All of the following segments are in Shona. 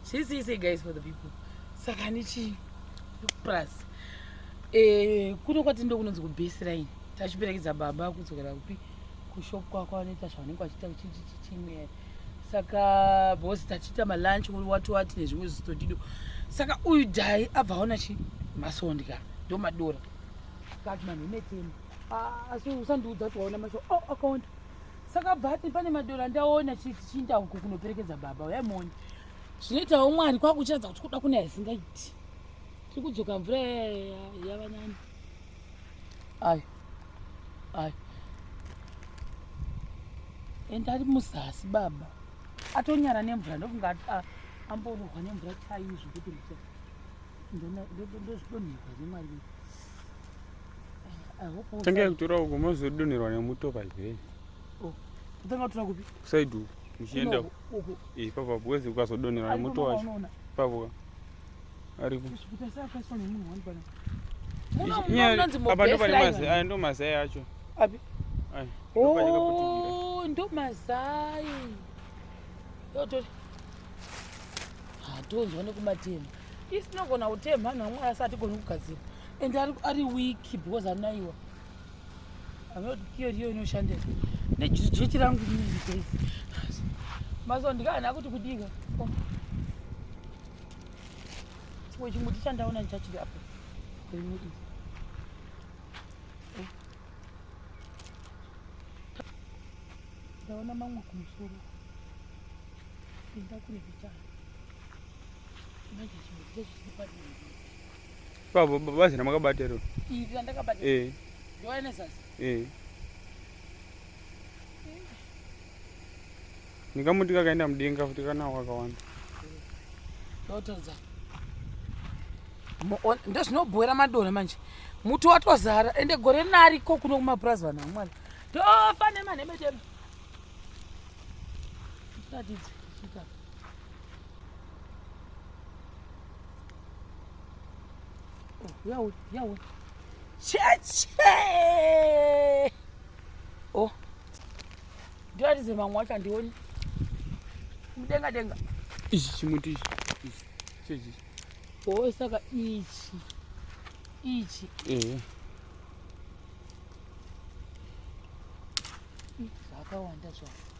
Say, say, say, guys, for the people. Saka nichi, plus. Eh, kuno kwati ndo kunonzi kubesera ini. Tachiperekedza baba kudzokera kupi kushop kwako anoita zvavanenge vachiita chichimera. Saka boss tachiita malunch uri wati wati nezvimwe zvisitodido. Saka uyu dai abva aona chi masondya ndo madora. Kati manhu imetemo. Ah, asi usandiudza kuti waona masho. Oh, akaonda. Oh, saka bvati pane madora ndaona chichiinda uko kunoperekedza baba uya moni zvinoitawo mwari kwakuchiratidza kuti kuda kuna yasingaiti tiri kudzoka mvura yavanani ayi ayi ende ari muzasi baba atonyara nemvura ndokunga amborohwa nemvura chaizvo kuti ndozvidonherwa nemwari wese Tenge kutora uko mozodonherwa nemuto pazvei. Oh. Kutanga kutora kupi? Kusaidi uko. Muchienda uko. Eh, ipapo apo wezi ukazodonherwa nemuto wacho. Ipapo. Ariko. Apa ndo pane mazai, aya ndo mazai acho. Api? Aya. Oh, ndo mazai. Yotori. Hatonzwa nekumatema. isi tinogona kuteya mhanhu amwari asi hatigoni kugadzira and ari weak because anaiwa anoti kiyo riyo inoshandira nejechi rangu rinezii maso ndikaana kuti kudika chimwe chimuti chandaona ndichachiri apo rimudii ndaona mamwe kumusoro enda kune kuchana Baba bazi ramakabata iro. Iri randakabata. Eh. Ndiwaye nezasi. Eh. Ndingamuti kakaenda mudenga futi kana wakawanda. Ndotodza. Ndozvinobhoera madora manje. Muti watozara ende gore nariko kuno kumapurazi vanhu vamwana. Tofa nemanhemetema. Tatidze. Yawe, yawe. Cheche! Oh. Ndio atize mamwe acho andioni. Mudenga denga. Ichi chimuti ichi. Ichi. Chechi. Oh, saka ichi. Ichi. Eh. Zvakawanda zvacho.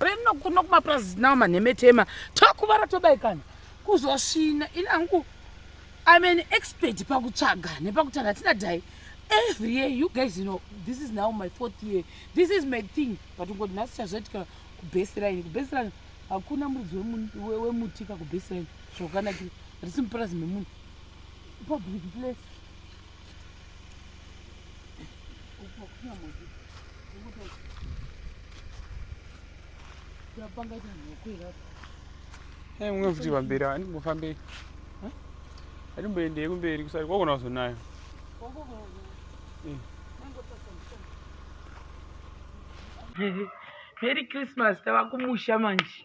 rino kuno kumapurazi nawo manhemetema tokuvara tobaikana kuzosvina ini angu im an expert pakutsvaga nepakutaura tina dai every year you guys you know this is now my fourth year this is my thing but ungoti nhasi chazoitika kubeseraini kubeseraini hakuna muridzi wemutika kubeseraini zvakanakira risi mupurazi memunhu public place Hey, mwe futhi bambira ani mufambe. Huh? Ani mbende kumberi kusari kwakona kuzonayo. Merry Christmas tava kumusha manje.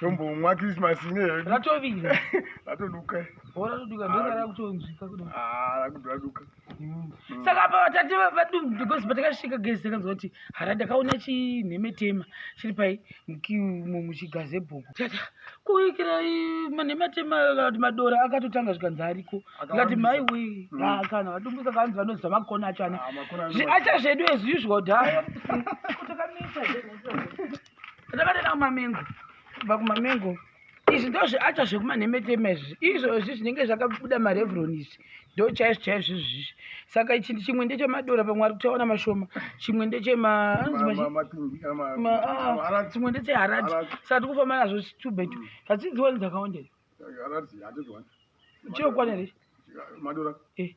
tombomwa krismas ine hedu ratovira ratoduka bora toduka ndosara kutonzwika kuda ah, rakudraduka mm. mm. saka apa vatati vadum because patakasvika gezi takanzwa kuti hara ndakaona chinhemetema chiri pai muchigazi ebhuku tata kuikira manhematema kana kuti madora akatotanga zvikanzi ariko ikati mai wee mm. ah, kana vadumbusa kaanzi vanoziva makona acho ana ah, acha zvedu as usual dhaa ndakatoenda kumamengo kubva kumamengo izvi ndo zviacha zvekumanhemetema izvi izvozvi zvinenge zvakabuda marevron izvi ndo chaizvo chaizvo izvizvi saka ichi chimwe ndechemadora pamwe ari kutaona mashoma chimwe ndechemachimwe ndecheharati saka tikufamba nazvo tubetu hadzidziwani dzakawandei chirokwana here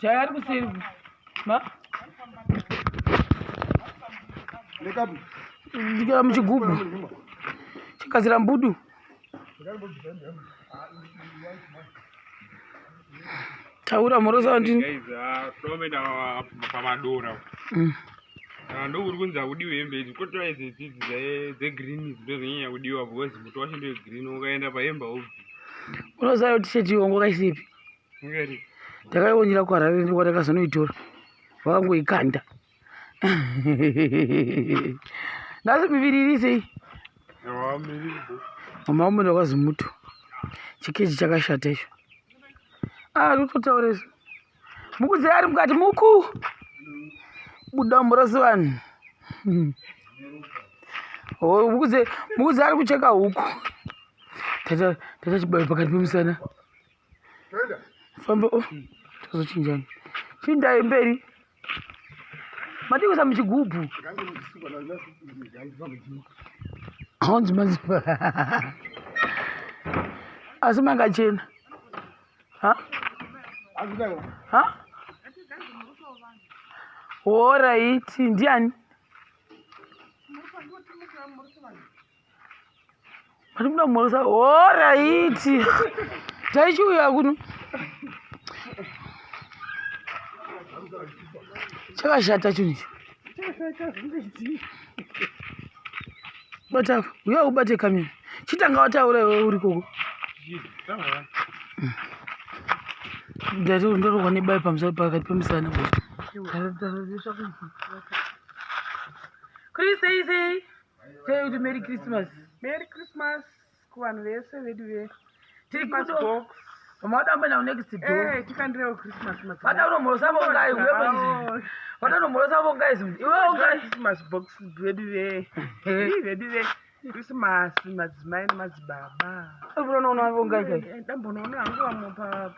jaya ari kuseri ma ndikira muchigubhu chigadzira mbudu taura mhorosa ndini Ah, ndokuri kunzi akudiwa hembe idzi kotiwa idzi idzidzi dzegreen idzi ndozonyanya kudiwa because muto wacho ndewegreen ukaenda pahembe haubvi unoziva kuti sheti yongo kaisipi ngeri ndakaiwonera kuharare ndikwatakazonoitora vakangoikanda nhasi miviri irisei awamiribo mama ume ndakwazi muto chikeji chakashata icho ah tototaura isu Mukudzi ari mukati muku buda murosi vanhu. Oh, mukudzi mukudzi ari kucheka huku. Tata tata chibayo pakati pemusana. Famba oh tozochinjana. Chindai mberi. Matikusa muchigubhu. Hanzi maziva. Asi mangachena. ha ha horaiti ndiani vari kuda kumhoresa horaiti taichiuya kuno chakashata chinhu icho bata uya ubate kamera chitanga wataura iwe uri koko ndati ndorogwa nebai pamusoro pakati pemusana Chris, say, say, say to Merry Christmas. Merry Christmas. kuvanhu vese vedu ve Christmas Mada mbena unext door. Eh, tikandirewo Christmas madzimai. Mada unomhorosa vongai uye manje. Mada unomhorosa vongai zimwe. Iwe vongai Christmas box vedu ve. Ii vedu ve. Christmas madzimai nemadzibaba. Unoona vongai kai. Dambonoona hangu vamwe pa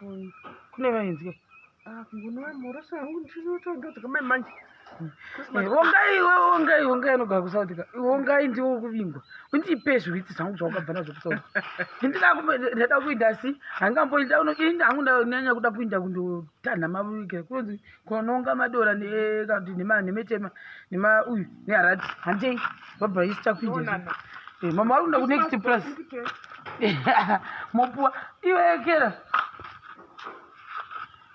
kune vainzi kai. Ah, mguni wa mhoroso yangu ndichinotsvaga dzikamai manje eh, ongai iwe ongai ongai anogara kusauti ka ongai ndiwo kuvingwa undipe zviwitsi zvangu zvawakabva nazvo kusauti ndidakundada kuinda asi hangamboinda unoinda hangu ndanyanya kuda kuinda kundotanha mavike kunonzi kononga madora nekati nemetema nema uyu neharati handei bhabha isi takuinda eh, mama ari kuda kunext plus mopuwa iwekera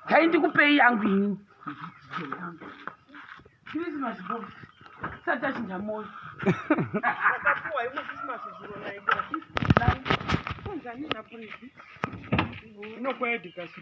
dai ndikupei yangu ini christmas box sati achinja moyo inokwayadikasi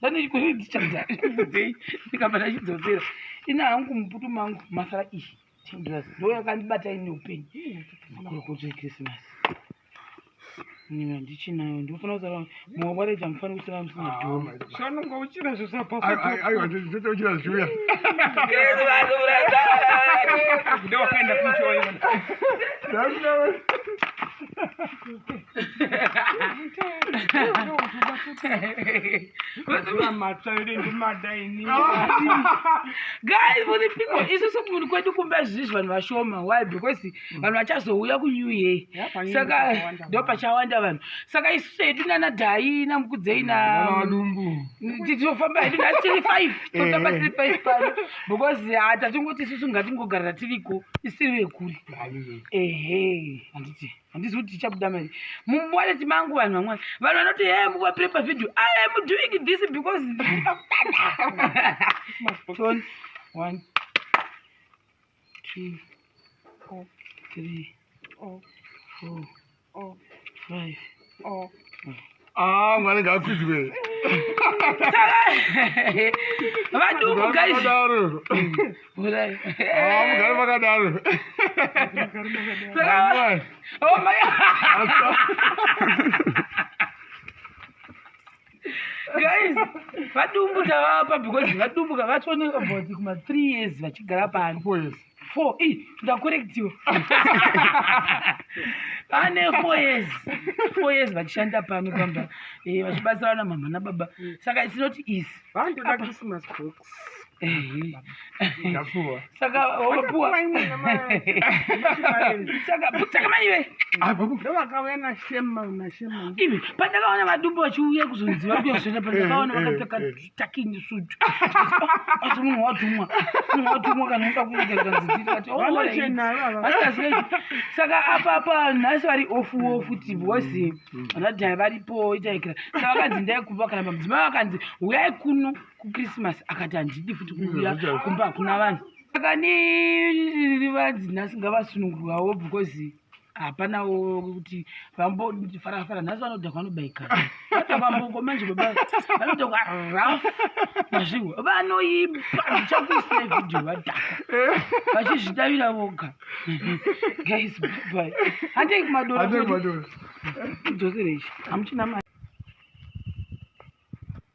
vanoikoredzichanzaiudzei ndikabva ndachidzosera ina hangu muputu mangu masara iyi tenders ndo yakandibata ine upenyu makorokodzo ekrisimasi nina ndichinayo ndinofanira kusara muwawareja mufanira kusara musina dhosanonga uchina zvisapasaochina zviuya krisimasi guys for the people isu somunhu kwedu kumba zvizvi vanhu vashoma why because mm. vanhu vachazouya kunew year saka ndo pachawanda vanhu saka isu sedu nana dhai namukudzei natitofamba hedu nhasi tiri five totamba tiri five pano because ah, tatingoti isusu ngatingogarira tiriko isiri vekuri ehe handiti handizivi kuti tichabuda mari mumwaleti mangu vanhu vamwari vanhu vanoti he muvapire pavhidhio i am doing this because ndiriakutanaaon one two o three o four o five o Ah, mwana ngakwizwe. Vadumu guys. Vakadaro. Ah, mugari vakadaro. Saka- Oh my guys vadumbu tavapa because vadumbu kavatoneka bhodhi kuma three years vachigara pano Poise. four i ndakorektiwa ane four years four years vachishanda pano pamba eh, vachibatsira vana mama nababa saka it's not easy vandoda christmas box eh, eh. saka wapuwa saka putsaka mai ve ndovakauya nashema nashema ive pandakaona vadumbu vachiuya kuzonziva kuyazoenda pandakaona vakapfeka taking suit asi munhu watumwa munhu watumwa kana unoda kuiaaaaai saka apapa nhasi vari ofu ofu ti bhosi radhai varipo itaikira saka vakanzi ndai kuva kana mamudzimai vakanzi huyai kuno kukrisimasi akati handidi futi kuuya kumba hakuna vanhu saka ni rivanzi nhasi ngavasunungurwawo because hapana kuti vambofarafara nhasi vanoda vanobaika vambongo manje vanoda raf mazvingo vanoimba ndichakuisa vhidhio vadhaka vachizvidavira voga guys by handei kumadora dzosereishi hamuchina mari